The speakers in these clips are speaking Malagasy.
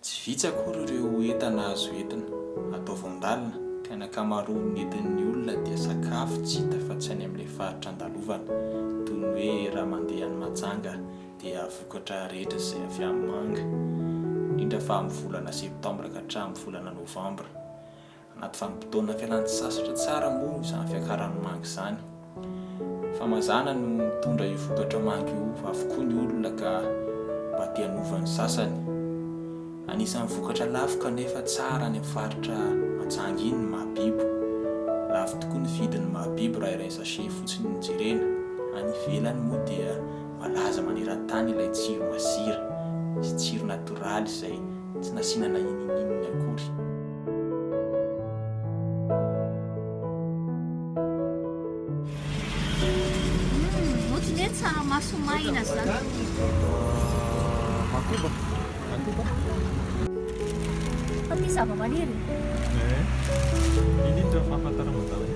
Tsy vitsy akory ireo entana azo entina, atao voandalina, ka ny ankamaroan' ny entin' ny olona dia sakafo tsy hita fa tsy any amin' ilay faritra andalovana, toy ny hoe raha mandeha any Mahajanga dia vokatra rehetra izay avy amin' ny manga, indrindra fa amin' ny volana septambra ka hatramin' ny volana nôvambra. Anaty vanim-potoana fialan-tsasatra tsara moa izany fiakaran'ny manga izany. Fa mazàna no mitondra io vokatra manga io avokoa ny olona ka mba te hanova ny sasany. Anisan'ny vokatra lafo kanefa tsara any amin'ny faritra Mahajanga iny ny mahabibo. Lafo tokoa ny vidin'ny mahabibo raha iray sachet fotsiny no jerena. Any ivelany moa dia Voalaza maneran-tany ilay tsiro masira sy tsiro natoraly izay tsy nasiana na inininona akory. Humm, ohatry ny hoe tsaramaso maina zany. Fa misy zava-maniry e! Eeh, indrindra fahafantaranao daholo.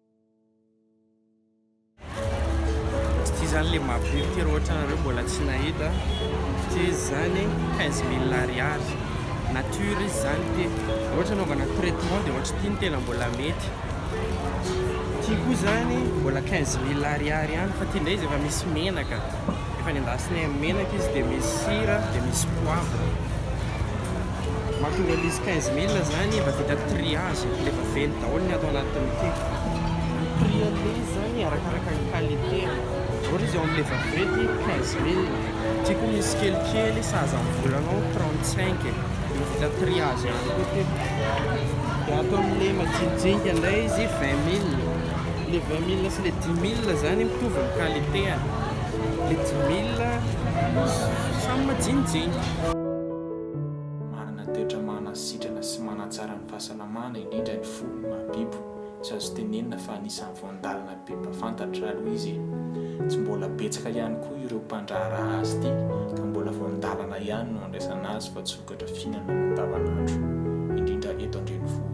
Ity zany le mahapory ity raha ohatra nareo mbola tsy nahita ity izy zany 15 mille ariary nature izy zany ity raha ohatra anaovana traitement dia ohatra ity no tena mbola mety ity koa zany mbola 15 mille ariary ihany fa ity ndray izy efa misy menaka efa nendasinay amin'ny menaka izy dia misy sira dia misy poivre Mahatonga an'izy quinze mille zany efa vita triage de efa velona daholo ny ato anatiny ty. Ny prix anle izy zany arakaraka ny qualité an. Ohatra izy eo amle vaporette quinze mille ty koa misy kelikely sahaza ny volanao trente cinq e. Efa vita triage ihany koa ty. De ato amle majinijinika ndray izy vingt mille. Le vingt mille sy le dix mille zany mitovy ny qualité an. Le dix mille samy majinijinika. Manana toetra manasitrana sy manatsara ny fahasalamana, indrindra ny fo, ny mahabibo. Tsy azo tenenina fa anisan'ny voandalana be mpafantatra aloha izy e! Tsy mbola betsaka ihany koa ireo mpandraharaha azy ity ka mbola voandalana ihany no andraisana azy fa tsy vokatra fihinanana andavanandro, indrindra eto an-drenivohitra.